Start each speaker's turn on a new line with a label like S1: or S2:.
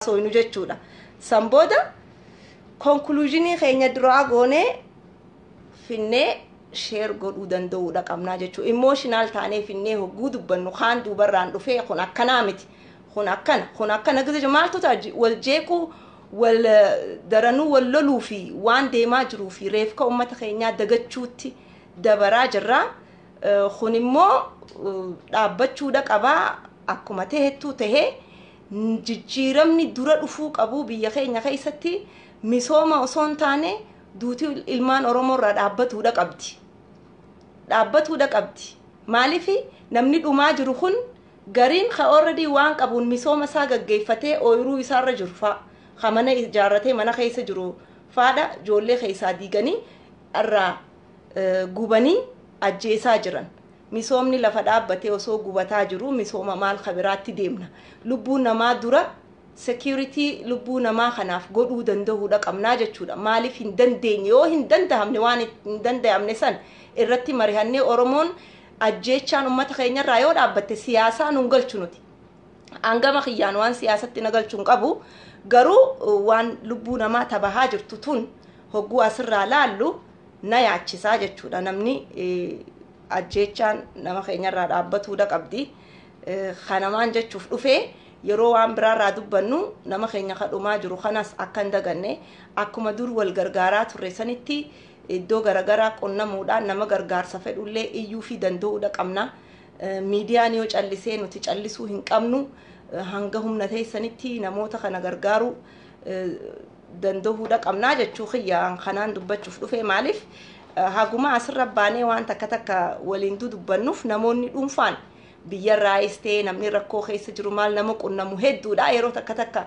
S1: haasooynu jechuudha. San booda konkuluuzinii keenya duraa goonee finnee sheer godhuu danda'uudha qabnaa jechuudha. Imooshinaal taanee finnee hogguu dubbannu kaan duubarraan dhufee kun akkanaa miti. Kun akkana kun akkana gizee maaltu ta'a wal jeequu wal daranuu wal loluu fi waan deemaa jiruu fi reefka uummata keenyaa dagachuutti dabaraa jirra. Kun immoo dhaabbachuudha qabaa akkuma ta'ettuu ta'ee. Jijjiiramni dura dhufuu qabu biyya keenya keessatti misooma osoo hin taane duuti ilmaan Oromoo irraa dhaabbatuudha qabdi. Dhaabbatuudha qabdi. Maaliif namni dhumaa jiru kun gariin ka already waan qabuun misooma isaa gaggeeffatee ooyiruu isaarra jiru fa'a. Ka mana ijaarratee mana keessa jiru faadha ijoollee keessaa diiganii irraa gubanii ajjeesaa jiran. Misoomni lafa dhaabbatee osoo gubataa jiruu misooma maal ka biraatti deemna? Lubbuu namaa dura security lubbuu namaa kanaaf godhuu dandahuudha qabnaa jechuudha. Maaliif hin dandeenye? Yoo hin dandahamne waan hin dandayamne san irratti marihannee Oromoon ajjeechaan ummata keenya irraa yoo dhaabbatte siyaasaa nun galchu nuti. An gama kiyyaan waan siyaasatti na galchu hin qabu. Garuu waan lubbuu namaa tabahaa jirtu tun hogguu asirraa laallu na yaachisaa jechuudha namni ajjeechaan nama keenyarraa dhaabbatuudha qabdi kanamaan jechuuf dhufee yeroo waan biraarraa dubbannu nama keenya kadhumaa jiru kanas akka hin daganne akkuma dur wal gargaaraa turre sanitti iddoo garagaraa qunnamuudhaan nama gargaarsa fedhullee iyyuu fi danda'uudha qabna miidiyaan yoo callisee nuti callisuu hin qabnu hanga humna teessanitti namoota kana gargaaruu dandahuudha qabnaa jechuu kiyya an kanaan dubbachuuf dhufee maaliif haguma asirra baanee waan takka takka waliin dudubbannuuf namoonni dhuunfaan biyyarraayis ta'ee namni rakkoo keessa jiru maal nama qunnamu hedduudha yeroo takka takka